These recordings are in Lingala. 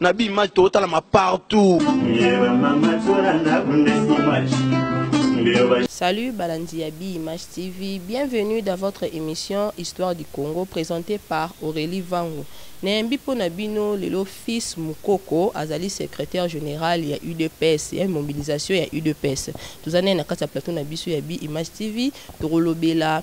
na bi image totalama partout Salut Balandi ya Bi Image TV, bienvenue dans votre émission Histoire du Congo présentée par Aurélie Vangu. Nayembi mpo na bino lelo fils Mukoko azali secrétaire général ya UDPS ya mobilisation ya UDPS. Toza naye na kati ya plateau na biso ya Bi Image TV, tokolobela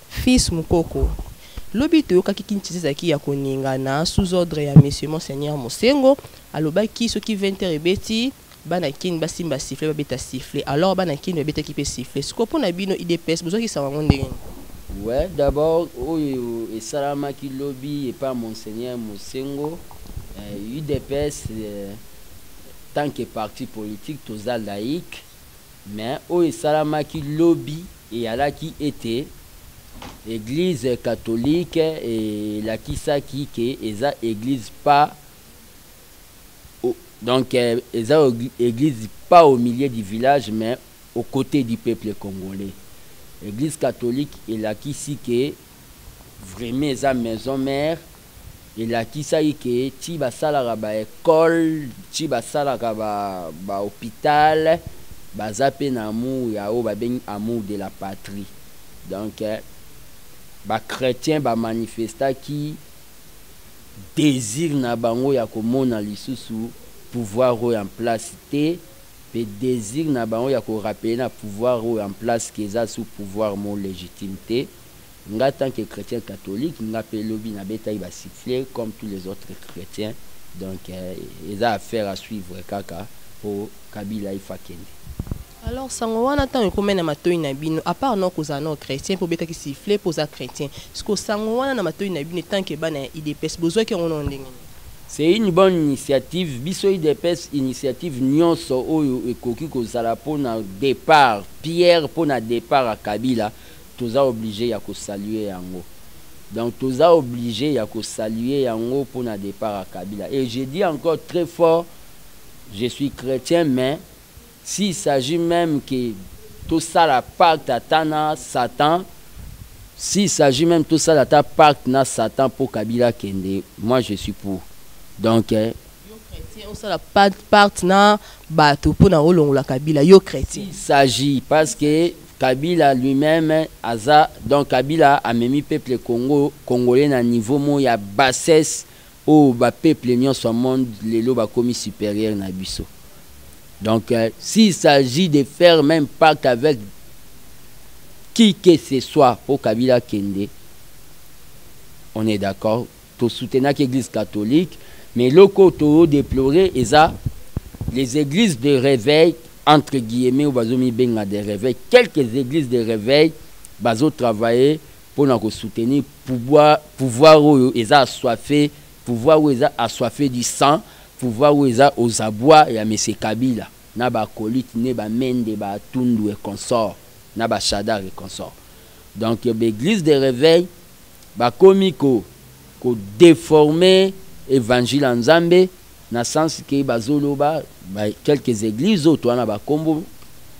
Fils Mukoko, lobi toyokaki Kinshasa ezalaki ya koningana sous ordre ya Monsieur Monseigneur Mosengo, alobaki soki 20 heures ebeti, bana Kin basimba sifflet babeta sifflet. Alors bana Kin babetaki mpe sifflet. Sikoyo mpo na bino udps bozwaki sango yango ndenge nini? Ouais, d'abord oyo esalamaki lobi epa Monseigneur Mosengo, udps tant que parti politique toza laïc, Mais oyo esalamaki lobi eyalaki ete eglise catholique elakisaki que eza eglise pas au donc eza eglise pas au milieu du village mais au cote du peuple congolais. Eglise catholique elakisi que vraiment eza maison mère. Elakisaki que ti basalaka ba ecoles, ti basalaka ba hopital, baza mpe na amour ya oyo babengi amour de la patrie. Donc, ba chretiens ba manifestaki desir na bango ya komona lisusu pouvoir oyo en place te mpe desir na bango ya ko rappeler na pouvoir oyo en place que eza sous pouvoir moko legitime te. nga tant que chretien catholique nga pe lobi na betaki ba sifflet comme tous les autres chretiens donc eza affaire à suivre kaka po kabila il faut akende. Alors sango wana tango ekomaki na matoyi na bino a part nao kozala nao chretien pe obetaki sifflet po oza chretien sikoyo sango wana na matoyi na bino etant que bana ya udps bozwaki yango nao ndenge nini? C'est une bonne initiative biso udps initiative nionso oyo ekoki kozala pona depart pierre pona depart ya kabila Toza oblige ya ko saluer yango. Donc toza oblige ya ko saluer yango pona depart ya Kabila et je dis encore très fort je suis chretien mais s'il s'agit meme que tosala pacte ata na satan s'il s'agit meme tosala ata pacte na satan po Kabila akende moi je suis pour donc Yo chretien osala pacte na batu pona olongola Kabila yo chretien? S'il s'agit parce que Kabila lui meme aza donc kabila amemi peuple kongo kongolais na niveau moko ya bassesse oyo ba peuple nionso ya monde lelo bakomi superieur na biso donc s'il s'agit de faire meme pact avec qui que ce soit po kabila akende on est d'accord To soutenaki eglise catholique mais eloko oyo to deplore eza les eglises de reveil entre guillemets oyo bazo mibenga de reveil quelques eglises de reveil bazo travailler pona ko soutenir pouvoir pouvoir oyo eza assoiffe pouvoir oyo eza assoiffe du sang pouvoir oyo eza aux abois ya monsieur kabila na ba acolytes ne ba mende ba atundu et consorts na ba shadary et consorts donc ba eglises de reveil bakomi ko ko deforme evangile ya nzambe na sens ke bazo loba ba quelques eglises oyo toa na ba kombo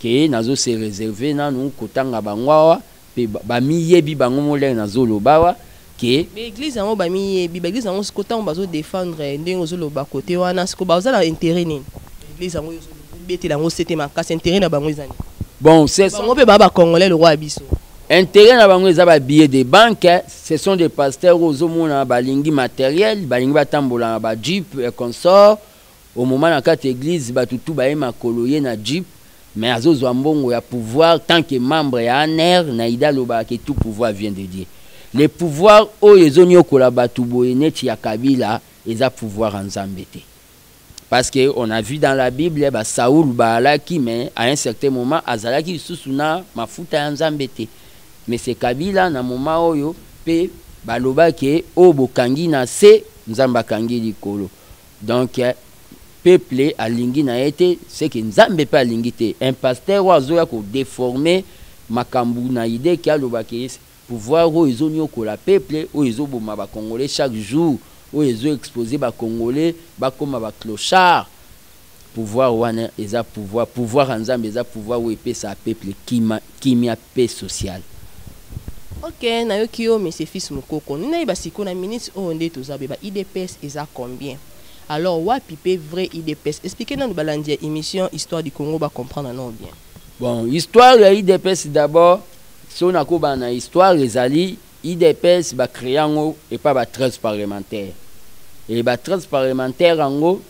ke nazo se reserver nanu kotanga bango awa pe ba miyebi bango moko ndenge nazo loba awa ke ba eglises yango ba miyebi ba eglises yango sikoyo tango bazo defendre ndenge ozo loba cote wana sikoyo baza na interet nini ba eglises yango ozo betela yango sete makasi interet na bango eza nini bon bango pe baza ba congolais lokola biso. Interet na bango eza ba billets de banque, ce sont des pasteurs ozo mona balingi materiel, balingi batambola na ba jeep et consorts, au moment na kati ya eglise batu tout baye makolo ye na jeep mais azo zwa mbongo ya pouvoir tant que membre ya anr, Naida alobaka que tout pouvoir vient de Dieu. Le pouvoir oyo ezo niokola batu boye neti ya Kabila eza pouvoir ya Nzambe te. parce que on a vu dans la bible ba Saul baalaki mais à un certain moment azalaki lisusu na mafuta ya Nzambe te mais c'est Kabila na moment oyo pe baloba ke o oh, bokangi na se Nzambe akangi likolo donc euh, peuple alingi na ye te c'est que Nzambe pe alingi te un pasteur oyo azoya ko déformer makambo na idée ke aloba ke Pouvoir oyo ezo niokola peuple, oyo ezo boma ba congolais chaque jour, oyo ezo exposer ba congolais ba koma ba clochards, pouvoir wana eza pouvoir, pouvoir ya nzambe eza pouvoir oyo epesaka peuple kima, kimia, paix sociale. Ok nayoki yo monsieur fils mukoko nde nayeba sikoyo na minutes oyo nde toza boye ba udps eza combien? Alors wapi pe vrai udps explique nanu balandi ya emission histoire du congo ba comprendre nao bien. Bon histoire ya udps d'abord Soki nakoba na histoire ezali udps ba crea yango epa ba 13 parlementaire et ba 13 parlementaire yango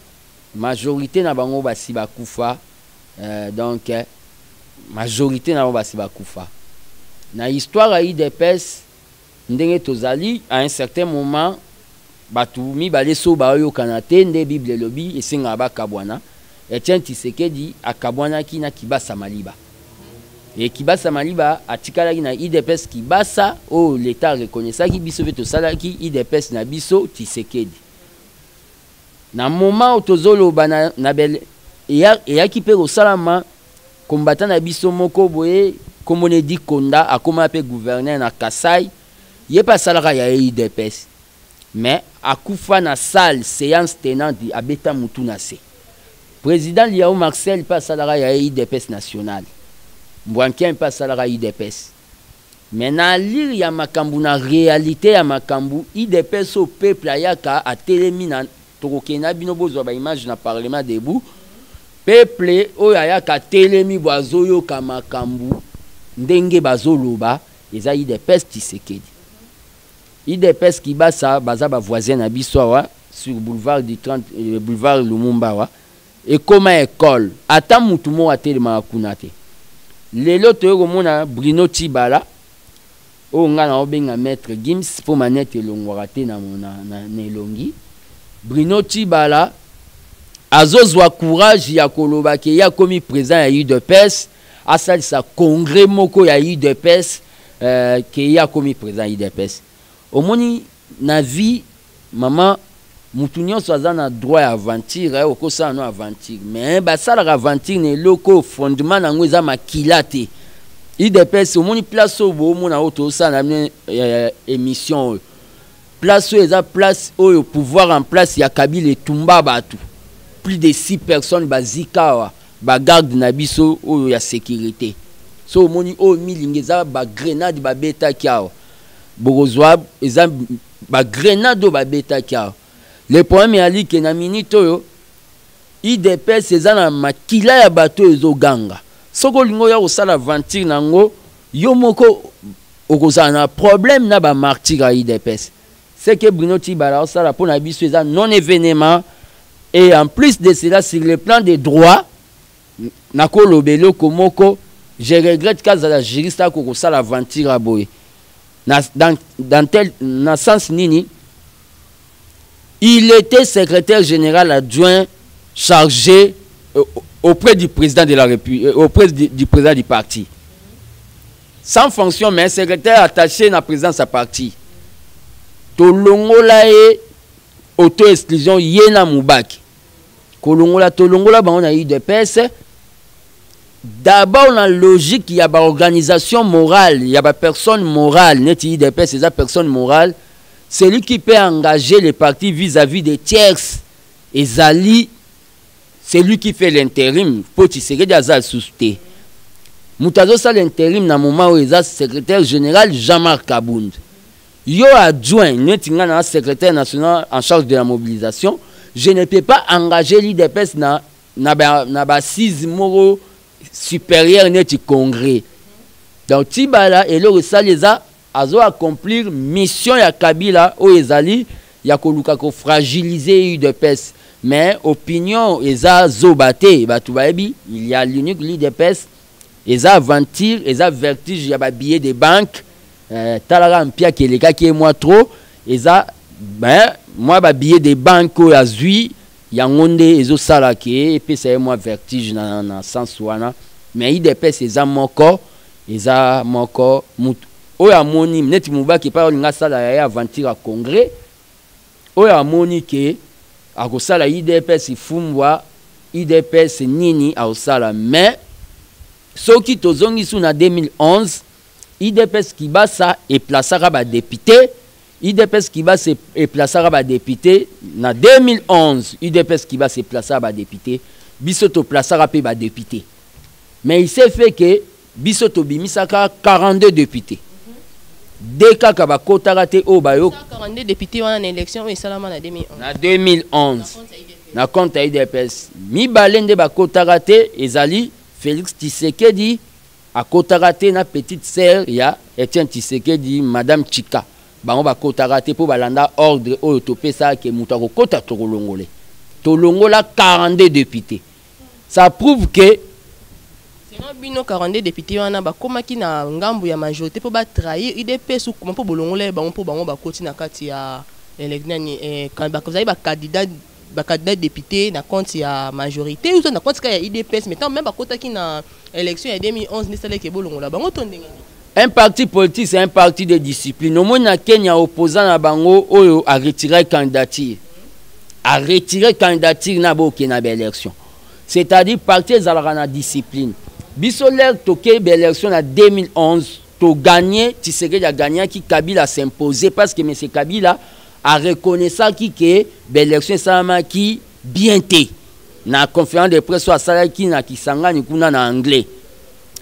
majorite na bango basi bakufa euh, donc majorite na bango basi bakufa na histoire ya udps Ndenge tozali à un certain moment batu mibale soki baoyokana te nde bible elobi esengaka bakabuana, Etienne Tshisekedi akabuanaki na Kibasa Maliba et Kibasa Maliba atikalaki na udps Kibasa oyo l'etat a reconnaissaki biso pe tosalaki udps na biso Tshisekedi na moment oyo tozoloba na na bel eyaki pe kosalama Combattant na biso moko boye kombo ne dit Konda akoma pe gouverneur na Kasaï ye pe asalaka ya udps mais akufa na salle seance tenante abeta mutu na se president Liao Marcel pe asalaka ya udps nationale mbwankian pe asalaka udps Mais na allure ya makambu na realite ya makambu udps oyo peuple ayaka atelemi na tokokende na bino bozua ba image na parlement debout peuple oyo ayaka atelemi bo azoyoka makambu ndenge bazoloba eza udps tshisekedi udps kibasa baza ba voisin na biso awa sur boulevard du 30 boulevard lumumba awa Ekoma ecole ata mutu moko atelemaka kuna te lelo toye komona Bruno tshibala oyo nga nao benga maitre Gims po manette elongwaka te na na elongi Bruno tshibala azo zua courage ya koloba ke ye akomi president ya udps asalisa congrès moko ya udps euh, ke ye akomi president ya udps omoni na vie Maman mutu nionso aza na droit ya aventure aye okosala no aventure mais basalaka aventure na eloko oyo fondement na yango eza makila te idps omoni place oyo boomona oyo tozosala na eh, eh, émission oyo place oyo eza place oyo pouvoir en place ya kabila etumba bato plus de 6 personnes bazika awa bagarde na biso oyo ya sécurité so omoni oyo milingi eza bagrenade babetaki awa bokozwa eza Ba grenade oyo babetaki awa. Le problème eyali ke na minute oyo udps eza na makila ya bato oyo ezoganga. Soki olingi oya kosala aventure na yango yo moko okozala na problème na ba martyrs ya udps. Ce que Bruno Tshibala azosala mpo na biso eza non evenement et en plus de cela sur le plan de droit nakoloba eloko moko je regrette kazala juriste ako kosala aventure aboye na dans, dans tel na sens nini il était secrétaire général adjoint chargé euh, auprès du président de la République euh, auprès du, du président du parti sans fonction mais secrétaire attaché na présidence ya parti tolongola ye auto exclusion ye na mubaki kolongola tolongola bango na udps d'abord na logique ya baorganisation morale ya bapersonne morale neti udps eza personne morale celui qui peut engager le parti vis-à-vis des tierces ezali celui qui fait l'intérim mpo tshisekedi aza lisusu te moto azosala interim na moment oyo eza secrétaire général jean-marc kabund Yo adjoint neti nga na secrétaire national en charge de la mobilisation, je ne peux pas engager l'IDPS na na ba na ba assise moko supérieur neti congrès. Donc Tibala eloko esali eza azo accomplir mission ya Kabila oyo ezali ya koluka ko fragiliser UDPS. Mais opinion eza zoba te, batu bayebi il y a l'unique l'IDPS Eza aventure, eza vertige ya ba billets de banque. Euh, talaka mpiaki elekaki ye mwa trop. Eza ben mwa ba billets de banque oyo azwi yango nde ezosala ke epesa ye mwa vertige na, na sens wana mais idps eza moko eza moko mutu oyo amoni neti mubaki epai olinga asala ya ye aventure ya congrès Oyo amoni que akosala udps fumbwa udps nini aosala mais soki tozongisi yo na 2011 udps kibasa e plaçaka ba depute udps kibasa e plaçaka ba depute na 2011 udps kibasa e plaçaka ba depute biso to plaçaka pe ba depute mais il s'est fait que Biso tobimisaka 42 depute de kaka bakotaka te oyo bayo 42 depute wana na election oyo esalama na 2011 na 2011 na compte ya idps mibale nde bakotaka te ezali Felix Tshisekedi akotaka te na petite sœur ya Etienne Tshisekedi madame Chika bango bakotaka te mpo balanda ordre oyo topesaka ke moto akokota tokolongole tolongola 42 depute ça prouve que selon bino 42 députés wana bakomaki na ngambu ya majorité mpo ba trahir udps ou mpo bolongola bango mpo bango bakoti na kati ya nani eh, bazali ba candidat ba candidat député na compte ya majorité ou na compte kaka ya udps mais tant même bakotaki na Election ya 2011 nde salaki bolongola bango to ndenge nini? Un parti politique c'est un parti de discipline. Omoni na Kenya opposant na bango oyo a retirer candidature. A retirer candidature na boke na ba élection. C'est-à-dire parti ezalaka na discipline. Biso l'air toke ba élection na 2011 to gagner Tshisekedi a gagner ki Kabila s'imposer parce que monsieur Kabila a reconnaissaki que ba élection esalamaki bien te na conférence de presse oyo asalaki na kisangani kuna na anglais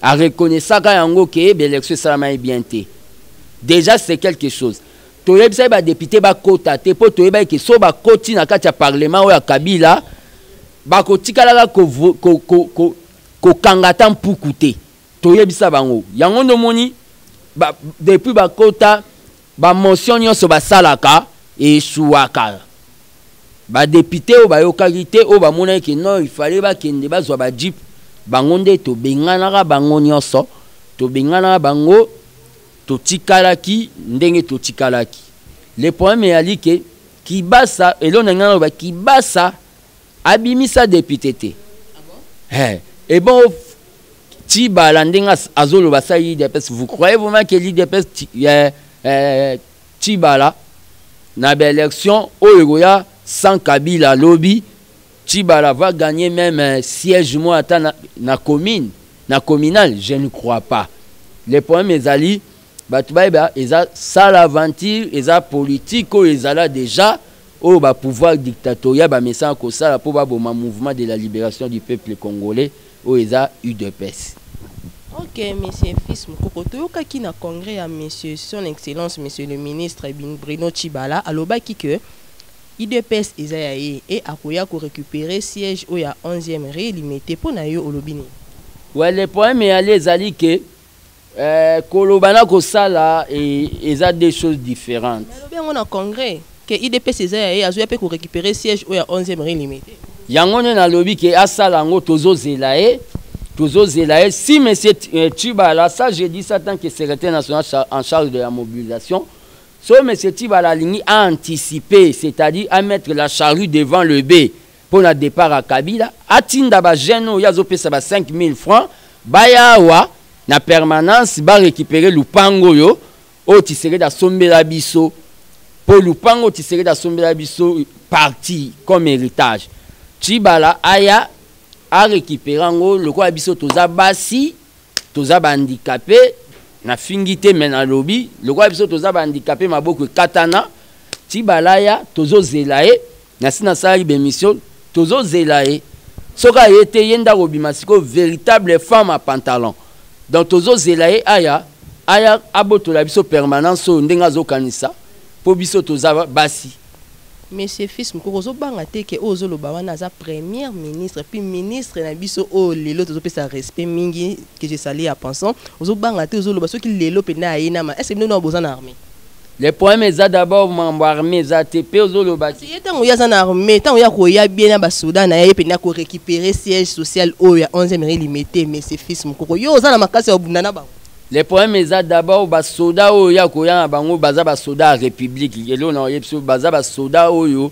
areconnaissaka yango ke baélection esalamaki bien te déjà c'est quelque chose toyebisaki badepute bakota te mpo toyebaki ke so bakoti na kati ya parlement oyo ya kabila bakotikalaka kokanga ko, ko, ko, ko, ata mpuku te toyebisa bango yango nde omoni ba, depuis bakota Ba motions nionso basalaka echuaka. Ba deputes oyo bayokaki te, oyo bamonaki que non il fallait bakende bazwa ba jeep, bango nde tobenganaka bango nionso, tobenganaka bango, totikalaki ndenge totikalaki. Le problème ezali que kibasa, eloko nalingi naloba kibasa, Abimisa depute te. He, et bon Tibala ndenge azoloba sa l'IDPS, vous croyez vraiment que l'IDPS eh, eh, Tibala na ba élection oyo ekoya sans Kabila lobi Tibala va gagner même eh, siège moi ata na, na commune, na communal, je ne crois pas. Le problème ezali bato bayeba eza sala aventure eza politike oyo ezala deja oyo bapouvoir dictatorial bamesana kosala mpo baboma mouvement de la libération du peuple congolais oyo eza udps ok monsieur fils mokoko toyokaki na congrès ya monsieur son excellence monsieur le ministre bruno chibala alobaki que idps eza ya ye e akoya korécupere siège oyo ya 11e re limete mpo na yo olobi nini ouais le problème ya le ezali ke Euh, koloba na kosala e, eza deux choses différentes nalobi yango na congrès ke idps eza ya ye azoya mpe korécupere siège oyo ya 11e rien limité yango nde nalobi ke asala yango tozozela ye tozozela ye si monsieur euh, tibala ça je dis ça tant que secrétaire national en charge de la mobilisation so monsieur tibala alingi aanticiper c'est-à-dire amettre la charrue devant le b mpo na depart ya kabila atinda ba jeune oyo azo pesa ba 5000 francs baya awa na permanence ba récupérer lupango oyo oyo tisekedi asombela biso mpo lupango oyo tisekedi asombela biso parti comme héritage chibala aya arécupere yango lokola biso toza basi toza bahandikape nafingi te me nalobi lokola biso toza bahandikape maboko ekatana chibala aya tozozela ye Nasi nasalaki ba emission tozo zela ye soki aye te ye nde akobima sikoyo veritable femme à pantalon donc tozo zela ye aya aya abotola biso permanence oyo ndenge azo kanisa po biso toza basi. Monsieur Fils Mukoko ozo banga te que oyo ozo loba wana aza première ministre puis ministre na biso oyo lelo tozo pesa respect mingi que je salue à pensant ozo banga te ozo loba soki lelo pende aye nama est ce que bino nao boza na armee? Le problème eza d'abord mambo armée eza te pe ozoloba ti ye tango yaza na armée tango ya koya bien na ba soda na ye penda ko récupérer siège social oyo ya 11e rue limete mais c'est fils mukoko yo oza na makasi ya bunda na bango le problème eza d'abord ba soda oyo ya koya na bango baza ba soda ya république elo na oyebisi baza ba soda oyo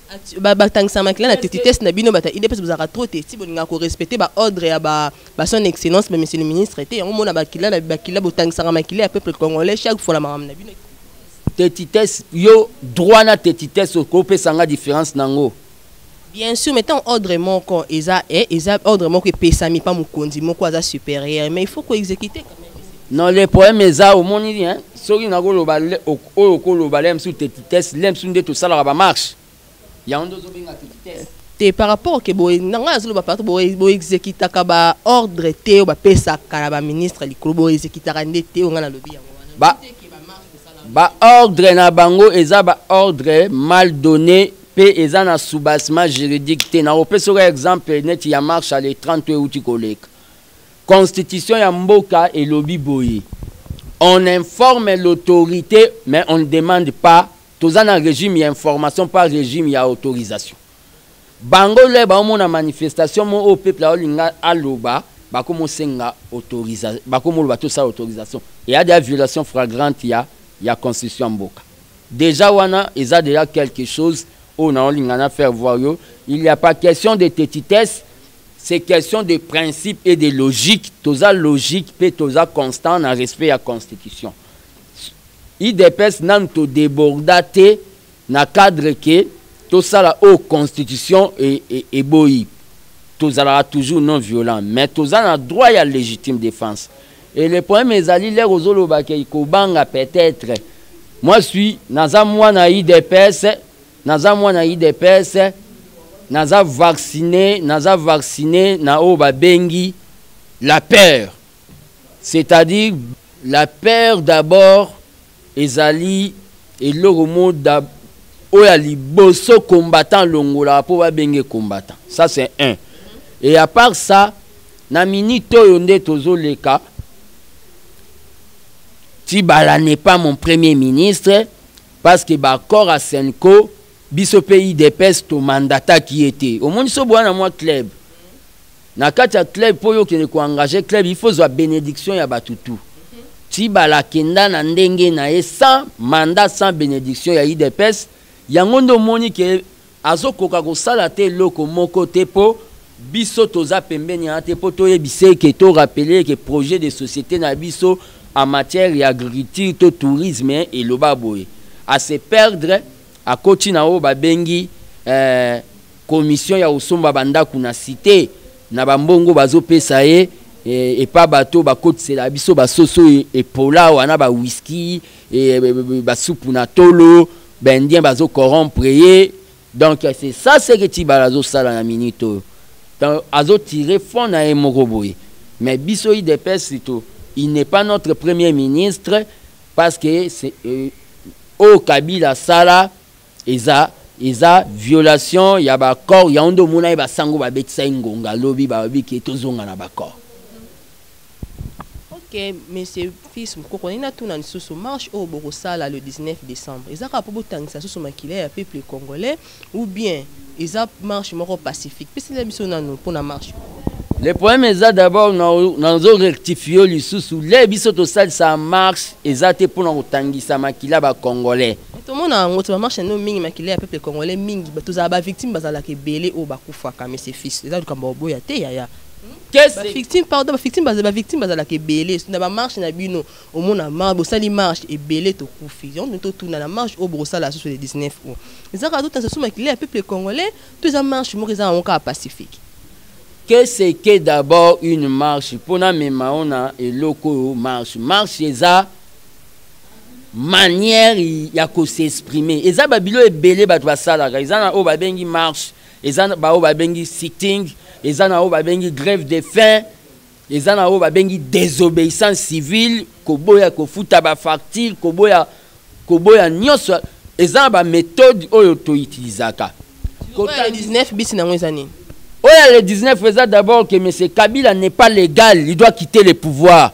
batangisa makila na tetitese na bino bata idps bozalaka trop te ti bolingaka korespecte baordre ya bason excellence bamessie le ministre te yango mona bakila na bakila botangisaka makila ya peuple congolais chaque fois na makambo na bino tetitese yo droit na tetitese okopesa nga différence na yango bien sûr mais ntango ordre moko eza eh, eza ordre moko epesami mpa mokonzi moko aza supérieur mais il faut koexécute Non, le problème est ça, au monde, hein. Sorry, n'a golo ba, oyo kolo ba, l'aime sous tes vitesses, l'aime sous des tout ça, la marche. Ya on doit bien à tes vitesses. te par rapport ke boye na ngai azoloba partout boexekitaka baordre te oyo bapesaka na baministre likolo boexekitaka nde te oyo ngai nalobi yango wana baordre na bango eza baordre mal donné mpe eza na soubassement juridique te nakopesa oka exemple neti ya marche ale 30 euti koleka Constitution ya mboka elobi boye on informe l'autorité mais on ne demande pas toza na régime ya information pas régime ya autorisation bango le baomona manifestation mo oyo peuple aolinga aloba bakomosenga autorisation bakomoloba tosala autorisation eya deya violation fragrante ya ya constitution ya mboka deja wana eza deya quelque chose oyo naolinga na faire voir yo il ya pas question de tetitesse C'est question de principe et de logique. Toza logique pe toza constant na respect ya constitution. IDPS nanu to deborda te na cadre que tosala oyo constitution e, e, eboyi. Tozalaka toujours non violent mais toza na droit ya légitime défense. Et le problème ezali lere ozoloba ke kobanga peut-être. Moi je suis naza mwana IDPS Naza mwana udps naza vaccine naza vaccine na oyo babengi la peur c'est-à-dire la peur d'abord ezali eloko mo oyo ya liboso combattant alongolaka mpo babenge combattant ça c'est un et à part ça na minute oyo nde tozoleka tibala n'est pas mon premier ministre Parce que ba accord ya Cenco biso pe udps to mandataki ye te. Omoni so boya na mwa club. Na kati ya club po yo kende ko engager club il faut zwa benediction ya batu tout. Tshibala akenda na ndenge na ye sans mandat sans benediction ya udps yango nde omoni ke Azo koka ko sala ata eloko moko te po biso toza pembeni ya te po to yebisa ye ke to rappeler ye ke projet de societe na biso en matière ya agriculture to tourisme eloba boye. A se perdre a koti na oyo ba bengi commission ya ko somba ba ndaku na cite na ba mbongo bazo pesa ye epa bato oyo ba kotisela biso ba soso epola awa na ba whisky ba supu na tolo. Ba indiens bazo corrompre ye donc c'est ça ce que Tshibala azo sala na minute oyo. Donc azo tirer fond na ye moko boye. Mais biso udps to il n'est pas notre premier ministre parce que euh, oyo Kabila asala eza eza violation ya ba accord ya ondo mona ye ba sango ba betisa ye ngonga lobi ba lobi ke tozonga na ba accord. Ok monsieur fils mukoko nalingi natuna lisusu marche oyo bokosala le 19 decembre eza kaka po botangisa lisusu makila ya peuple congolais ou bien eza marche moko pacifique pesela biso nanu pona marche oyo Le problème eza d'abord nazo rectifier yo lisusu lei biso tosalisa marche eza te pona kotangisa makila ba congolais. Tomona yango te ba marche nanu mingi makila ya peuple congolais mingi tozala ba victimes bazalaka ebele oyo bakufaka monsieur fils eza likambo ya koboya te yaya. victime pardon bavictime bavictime bazalaka ebele na bamarche na bino omona marche bosali marche ebele tokufi yango totuna na marche oyo bokosala susu le 19 o eza kaka totanisa so makila ya peuple congolais to eza marche moko eza yango kaka pacifique que c'est que d'abord une marche mpona mema ona eloko oyo marche marche eza manière ya kosexprime eza babilo ebele bato basalaka eza na oyo babengi marche eza na baoyo babengi sitting eza na oyo babengi grève de fin eza na oyo babengi désobéissance civile koboya kofuta bafacture koboya koboya nyonso eza na baméthode oyo toutilisaka oyo ya le 19 bisi nango eza nini oyo ya le 19 eza d'abord que monsieur kabila n'est pas légal il doit quitter le pouvoir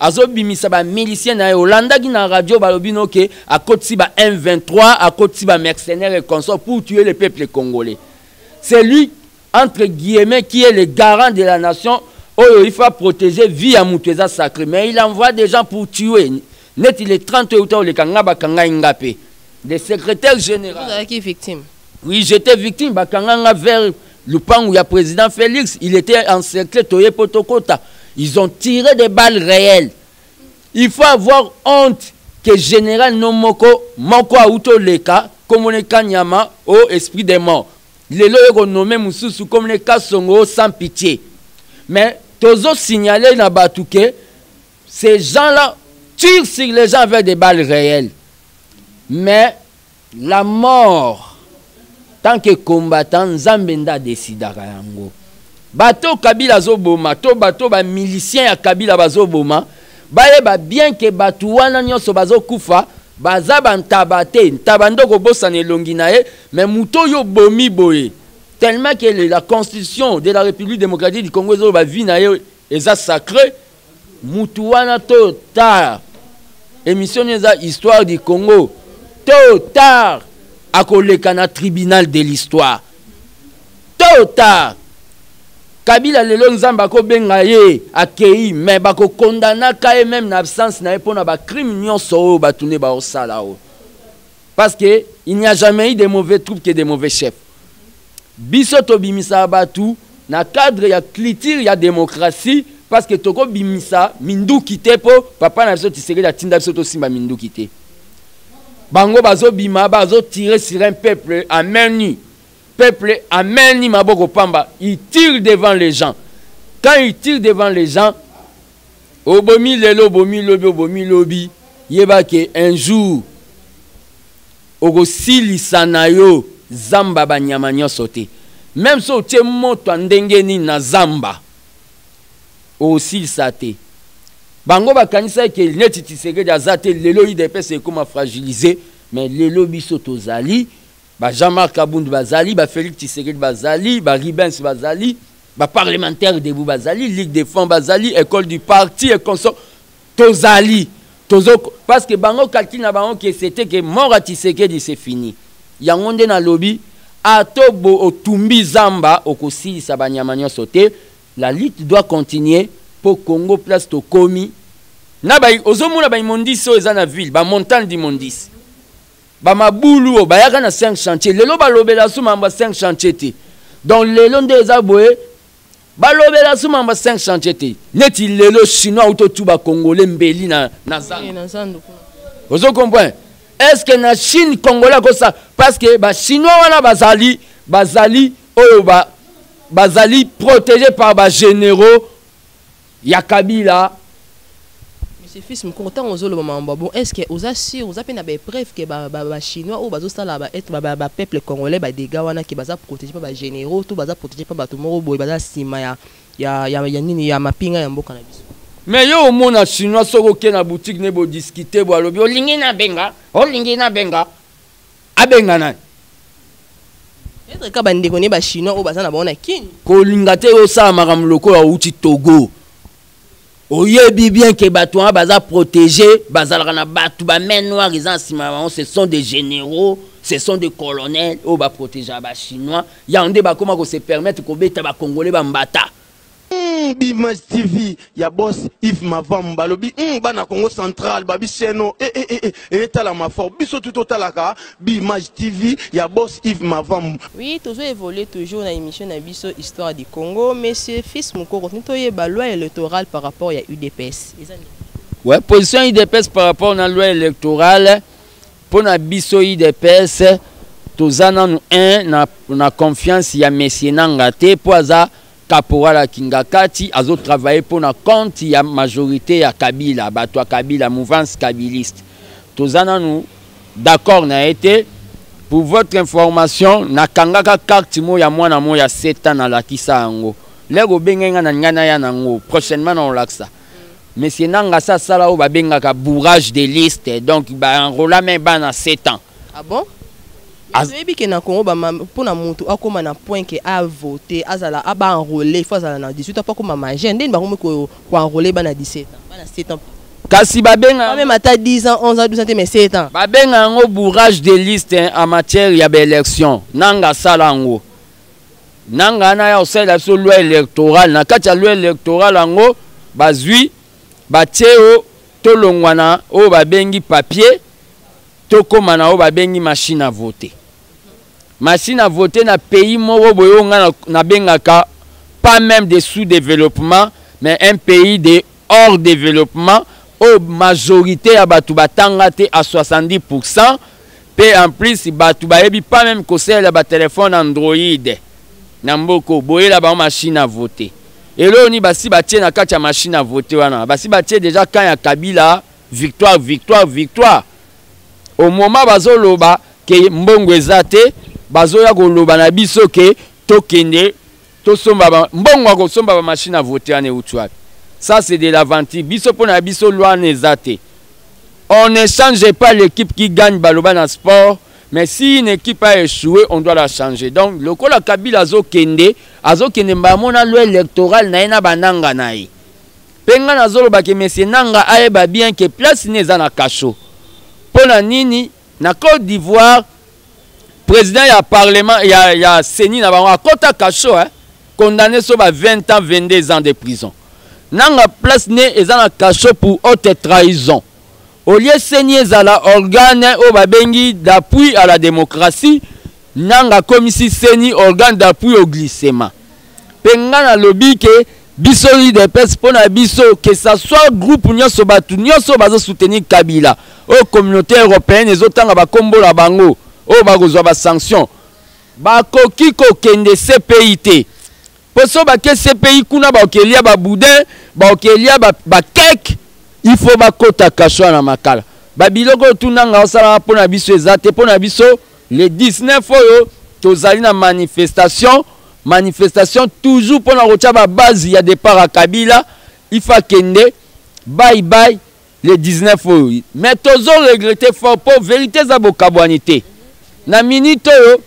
azobimisa ba milicien na ye olandaki na radio balobi no ke akotisi ba m23 akotisi ba mercenaire et consort pour tuer le peuple congolais c'est lui entre guillemets qui est le garant de la nation oyo il faut protéger vie ya moto eza sacré mais il envoie des gens pour tuer neti le 30 oyo uta oleka nga bakangai nga mpe le secrétaire général ozalaki victime oui j'étais victime bakanga nga vers Lupangu ya president Felix, il était en secret toye potokota. Ils ont tiré des balles réelles. Il faut avoir honte que général Nomoko, Moko Auto Leka, Komone Kanyama, au oh, esprit des morts. Lelo yoko nommé Mususu Komone Kasongo sans pitié. Mais Tozo signalé na Batouke, ces gens-là tirent sur les gens avec des balles réelles. Mais La mort tant que combattant nzambe nde adecidaka yango bato oyo kabila azoboma to bato oyo bamilicien ya kabila bazoboma bayeba bien ke bato wana nyonso bazokufa baza bantaba te ntaba nde okobosana elongi na ye me moto oyo obomi boye tellement ke la constitution de la république démocratique du congo ezoloba vie na ye eza sacre Mutu wana tôt tard emission nio eza histoire du Congo tôt tard akoleka na tribunal de l'histoire tôt tard Kabila lelo Nzambe akobenga ye akeyi mais bako condamnaka ye meme na absence na ye mpona ba crime nionso oyo batu nde baosala oyo parce que il n'y a jamais eu de mauvais troupes que de mauvais chefs biso tobimisaka bato na cadre ya culture ya démocratie parce que tokobimisa minduki te mpo papa na biso tisekeli atinda biso tosimba minduki te bango bazobima bazotire sur un peuple à main nue peuple à main nue maboko pamba il tire devant les gens quand il tire devant les gens Obomi lelo, obomi lobi, obomi lobi, yeba ke un jour okosilisa na yo zamba ba nyama nionso te. Meme so otie moto ya ndenge nini na zamba, okosilisa te. Bango bakanisaki ke neti Tshisekedi aza te, lelo udps ekoma fragiliser, mais lelo biso tozali, Ba Jean Marc Kabund bazali, ba Felix Tshisekedi bazali, ba Ribens bazali, ba parlementaires debout bazali, Ligue des Francs bazali, École du Parti et consort tozali. Tozo parce que bango calcul na bango que c'était que mort à Tshisekedi c'est fini. Yango nde nalobi ato bo otumbi zamba okosilisa banyama nyonso te. La lutte doit continuer po Congo place tokomi na ba ozomona ba immondices oyo eza na ville ba montagnes d'immondices ba mabulu oyo bayaka na 5 chantier lelo balobela su mambo ya 5 chantier te donc lelo nde eza boye balobela su mambo ya 5 chantier te neti lelo chinois auti otuba congolais mbeli na, na zando ozo comprendre est ce que na chine congolais akosa parce que bachinois wana bazali bazali oyo ba, bazali protégé par bagénéraux Ya kabila. Monsieur Fils Mukoko, ntango ozoloba makambo ya bon, est-ce que oza sur, oza mpe na baepreuve ke ba, ba, ba Chinois oyo bazosala ba, ba, ba, ba peuple congolais ba dégâts wana ke baza protege mpe ba généraux to baza protege mpe bato moko boye baza nsima ya, ya, ya, ya nini ya mapinga ya mboka na biso? Mais yo omona Chinois soki oke na boutique ne bo discuter bo alobi olingi nabenga, olingi nabenga. abenga nani peut-être ka bandeko ne bachinois oyo baza na bango na kini kolinga te osala makambo lokola outi togo oyebi bien ke bato wana baza protégé bazalaka na bato bamain noire eza na nsima na bango ce sont des généraux ce sont des colonels oyo baprotégea bachinois yango nde bakóma kose permettre kobeta bacongolais bambata Hum, Bimage TV ya boss Yves Mavambu balobi hum, bana Congo Central babi seno e e e e etalama fort biso tu totalaka Bimage TV ya boss Yves Mavambu. Oui, tozo evoluer toujours na emission na biso Histoire du Congo, monsieur Fils Mukoko, tino toyeba loi electorale par rapport ya UDPS. Eza nini? Ouais, position UDPS par rapport na loi electorale Pona biso udps toza nanu un na, na confiance ya Monsieur Nanga te po aza caporal ya Kingakati azo travailler pona compte ya majorite ya Kabila bato ya Kabila mouvance kabiliste toza nanu d'accord na ye te Pour votre information, nakangaka carte mo ya mwana mo ya 7 ans nalakisa yango. Lego benga nga na nga na ya nango. Prochainement na olakisa. monsieur nanga sa sala oyo babengaka bourrage de liste donc baenrola me bana 7 ans ah bon toyebi ke na congo mpo na motu akóma na point ke avote azala aba enrole il faut azala na 18 ans mpo akóma majeur ndeni bakomi koenrole bana 17 ans bana 7 ans kasi babenga même ata 10 ans 11 ans 12 ans te mais 7 ans babenga yango bourrage de liste en matière ya baélection nanga asala yango nanga na ya osalela biso loi électorale na kati ya loi électorale yango bazwi batie o tolongwa na oyo babengi papier tokóma na oyo babengi machine à voter machine à voter na pays moko boye oyo ngai nabengaka pas même de sous-développement mais un pays de hors developpement oyo majorite ya bato batanga te à 70 pourcent mpe en plus bato bayebi pas meme kosalela batelefone android na mboka oyo boyela bango machine à vote eloo nini basi batie na kati ya machine à vote wana basi batie déjà camp ya kabila victoire victoire victoire au moment bazoloba ke mbongo eza te bazoya koloba na biso ke tokende tosomba ba mbongo ya kosomba bamashine ya vote wana euti wapi ça c'est de l'aventure biso mpo na biso loi wana eza te on ne change pas l'équipe qui gagne baloba na sport mais si une équipe a échoué on doit la changer donc lokola kabila azokende azokende mbala mona loi électorale na ye na bananga na ye mpe ngai nazolobaki mesie nanga ayeba bien ke place ne eza na kasho mpo na nini Na Cote d'Ivoire, président ya parlement ya, ya CENI na bango akota cachot hein, condamné sur 20 ans, 22 ans de prison. Nanga place ne eza na cachot pour haute trahison. Au lieu CENI ezala organe oyo babengi d'appui à la démocratie, nanga komisi CENI organe d'appui au glissement. Pe nga na lobi ke biso udps pona biso que ça soit groupe nionso batu nionso bazo soutenir kabila oyo communaute europeenne ezo tanga ba kombo na bango oyo bako zwa ba sanction ba koki ko kende CPI te po so ba ke CPI kuna ba okelia ba boudin ba okelia ba, ba cake il faut ba kota cachwa na makala ba biloko oyo tuna nga osala pona biso eza te pona biso Le 19 oyo tozali na manifestation manifestation toujours pona kotia ba base ya départ ya Kabila il faut akende bye bye le 19 oyo mais tozo regretter fort po verite eza bokabwani te na minute oyo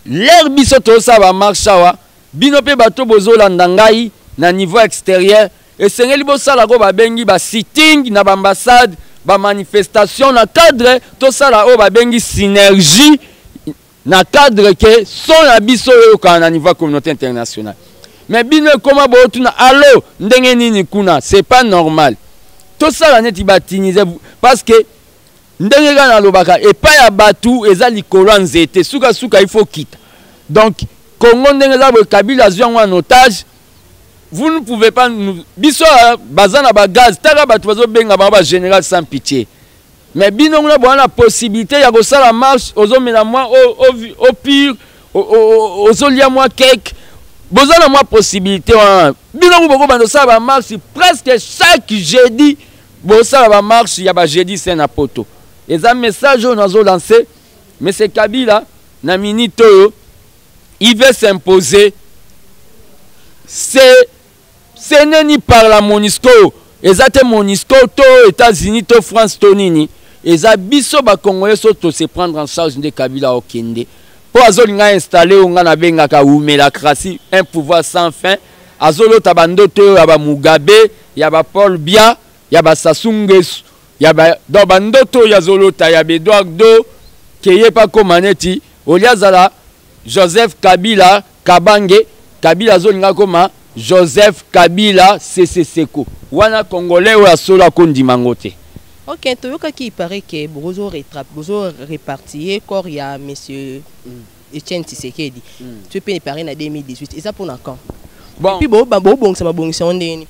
l'heure biso tozosala ba marche awa bino mpe bato bozolanda ngai na niveau extérieur Esengeli bosala ko babengi ba sitting na ba ambassade ba manifestation na cadre tosala oyo babengi synergie na cadre ke son ya biso oyokana na niveau ya communauté internationale mais bino ekoma bootuna alo ndenge nini kuna c'est pas normal tosala neti batinise parce que ndenge kaka nalobaka epai ya bato eza likolo ya nzete sukasuka ifo kita donc congo ndenge eza boye kabila azwi yango en otage vous ne pouvez pas nous biso euh, baza na ba gaz taka bato bazobenga bango ba général sans pitié mais bino kuna boza na possibilité ya kosala marche ozomela mwa au pire ozolia mwa cake boza na mwa possibilité wana bino ku bokobanda osala bamarche presque chaque jeudi bosala bamarche ya bajeudi saint na poto eza message oyo nazolanse monsieur kabila na minute oyo il veut s'imposer c'est ce n'est ni par la monisco eza te monisco to états-unis to france to nini eza biso bacongolais so tose prendre en charge nde kabila okende mpo azolinga installe oyo ngai nabengaka wumelacratie un pouvoir sans fin azolota bandoto oyo ya bamugabe ya bapaul bia ya ba Sassou Nguesso ya ba donc ba ndoto oyo azolota ya ba Eduardo ke ye mpe akoma neti olie azala Joseph Kabila Kabange Kabila azolinga akoma Joseph Kabila Sese Seko wana congolais oyo ya solo akondima yango te. Ok, toyokaki il paraît que bozo repartir corps ya monsieur mm. Etienne Tshisekedi. Mm. Tu es payé pareil na 2018. Et ça pour quand Bon. Et puis bon, bon, bon, ça m'a bon, ça on est.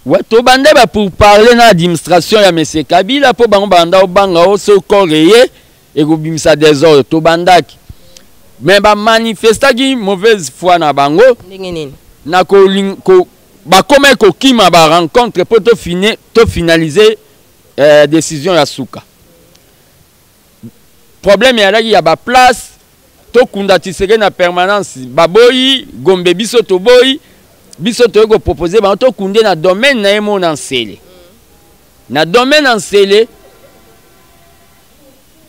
Ouais, to bande ba pour parler na administration ya monsieur Kabila po bango banda obanga o so koreye et ko bimisa désordre to bandaki. Mais ba manifestaki mauvaise foi na bango. Ndenge nini? Na ko ko ba koma ko kima ba rencontre po to fine to finaliser euh, décision ya suka. problème eyalaki ya ba place tokunda tshiseke na permanence baboyi gombe biso toboyi biso toyei kopropose bango tokunde na domaine na ye moko na nsele na domaine na nsele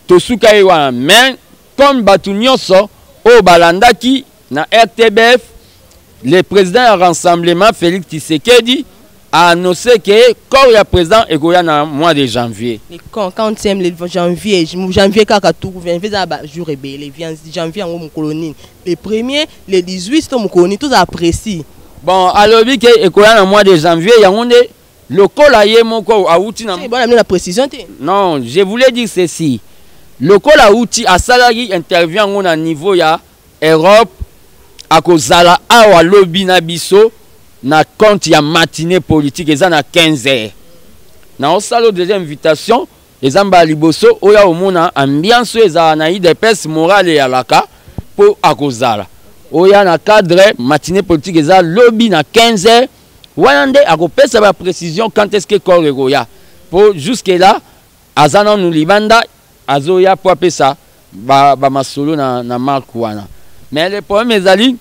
tosuka ye wana mais comme bato nyonso oyo balandaki Na RTBF, le président ya rassemblement Félix Tshisekedi a annoncé que corps ya président ekoya na mois de janvier. Le quand quand tième le janvier, janvier kaka tout janvier za ba jour ebele, janvier yango mokolo nini? Le premier, le 18 to mokolo nini? Tozala précis. Bon, alobi ke ekoya na mois de janvier yango nde lokola ye moko awuti na Bon, na précision te. Non, je voulais dire ceci. Lokola awuti asalaki interview yango na niveau ya Europe akozala awa lobi na biso na compte ya matinee politique eza na 15 heures na osalo deja invitation eza mbala liboso oya omona ambiance oyo ezala na idps morale ya laka mpo akozala oya na cadre matinee politique eza lobi na 15 heures wana nde akopesa ba précision quand est ce que corps ekoya mpo jusque là Aza nanu libanda azoya po apesa ba, ba masolo na, na marque wana mais le problème ezali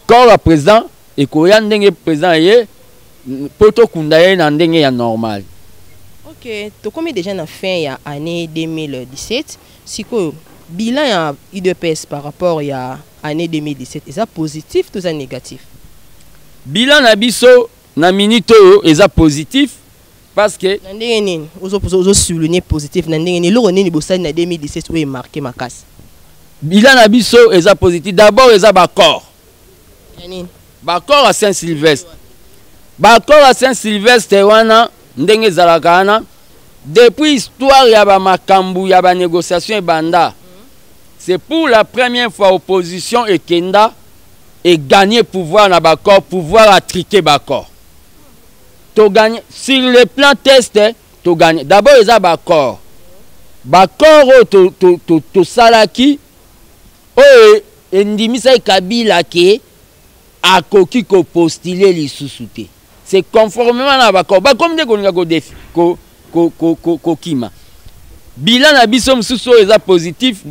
corps ya president ekoya ndenge president eye po tokunda ye na ndenge ya normal ok tokomi deja na fin ya année 2017 sikoyo bilan ya udps par rapport ya année 2017 eza positif toza négatif bilan na biso na minute oyo eza positif parce que na ndenge nini ozo ozo souligner positif na ndenge nini eloko nini bosali na 2017 oyo marqué makasi bilan na biso eza positif d'abord eza ba corps ya nini ba corps à Saint Sylvestre ba corps à Saint Sylvestre wana ndenge ezalaka wana depuis histoire ya ba makambu ya ba négociation ebanda c'est pour la première fois opposition ekenda et gagner pouvoir na ba corps pouvoir à triquer ba corps to gagne sur le plan test to gagne d'abord eza ba corps ba corps oyo to to to tosalaki oyo endimisaki Kabila ke akoki ko postuler lisusu te c'est conformément na ba corps ba comme nde kolinga ko defi ko ko ko ko, ko kima bilan na biso mosusu oyo eza positif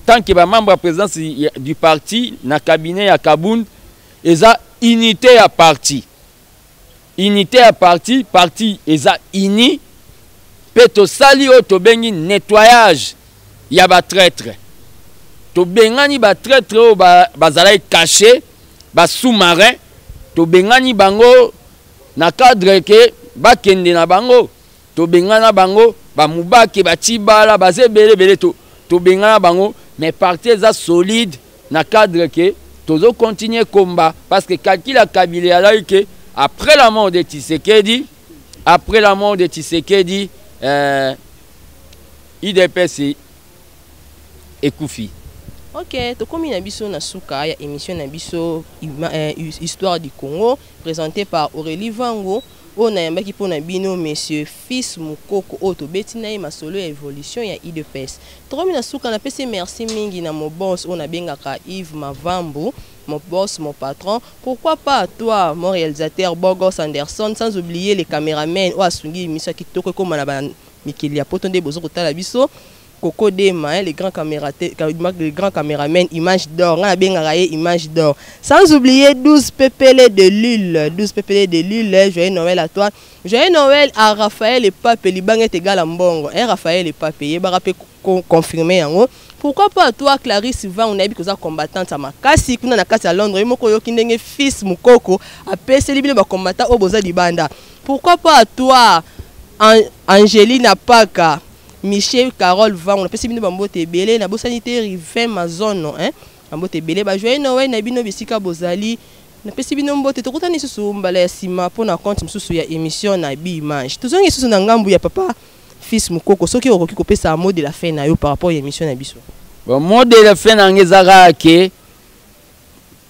tant que ba membre ya présidence du parti na cabinet ya Kabund eza unité ya parti unité ya parti parti eza uni mpe tosali oyo tobengi nettoyage ya batraitre tobengani batraitre oyo bazalaki ba cache basous-marin tobengani bango na cadre ke bakende na bango tobengana bango bamubake batibala baza ebele ebele tobengana bango mais parti eza solide Na cadre que tozo continuer combat parce que Kakila Kabila alaki que après la mort de Tshisekedi, après la mort de Tshisekedi, euh, IDPS ekufi. Ok, tokomi na biso na suka ya émission na biso euh, Histoire du Congo présentée par Aurélie Vango. Oyo nayambaki mpo na bino monsieur Fils Mukoko oyo tobeti na ye masolo ya evolution ya udps. Tokomi na suka, napesi merci mingi na mon boss oyo nabengaka Yves Mavambu, mon boss, mon patron, pourquoi pas toi mon realisateur beau gosse Anderson, sans oublier le cameraman oyo asungi emission kitoko ekoma na ba mikili ya poto nde bozo kotala biso. Coco Dema hein, le grand camérateur, le grand cameraman, image d'or. Nga bengaka ye image d'or. Sans oublier 12 pepele de Lille, 12 pepele de Lille. Joyeux Noël à toi. Joyeux Noël à Raphaël et Pape libanga tegala mbongo. Hein Raphaël et Pape ye baka pe confirmer yango. Pourquoi pas toi Clarisse Vang nayebi koza combattante ya makasi kuna na kati ya Londres ye moko oyoki ndenge fils mukoko apeseli bino ba combattant oyo boza libanda. Pourquoi pas toi An Angelina Paka Michel Carole Vango, napesi bino bambote ebele, nabosani te Rivin Mazono, hein? bambote ebele, ba joyeux Noël na bino bisika bozali, napesi bino mbote, tokutani lisusu mbala ya sima mpo na compte mosusu ya émission na Bi Image. Tozongi lisusu na ngambu ya papa Fils Mukoko, soki okoki kopesa mot de la fin na yo par rapport ya émission na biso. Bon, mot de la fin na ngai eza kaka ke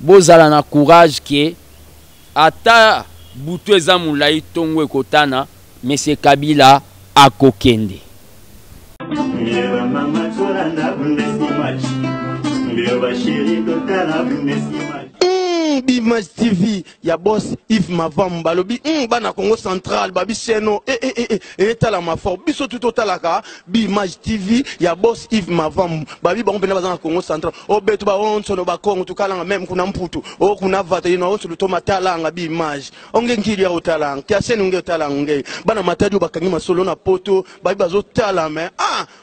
Bozala na courage que ata butu eza mulayi tongo ekotana monsieur Kabila akokende. Hum B'image TV ya boss Yves Mavambu balobi mm, bana Congo Central babi seno e e e e etala ma fort biso tout otalaka bi image TV ya boss Yves Mavambu babi bango pena bazanga Congo Central o betu ba onso no ba Congo tukalanga même kuna mputu o kuna vata yino onso luto matalanga bi image onge nkili ya otalanga kia seno nge otalanga nge bana matadi bakangi masolo na poto babi bazo tala mais ah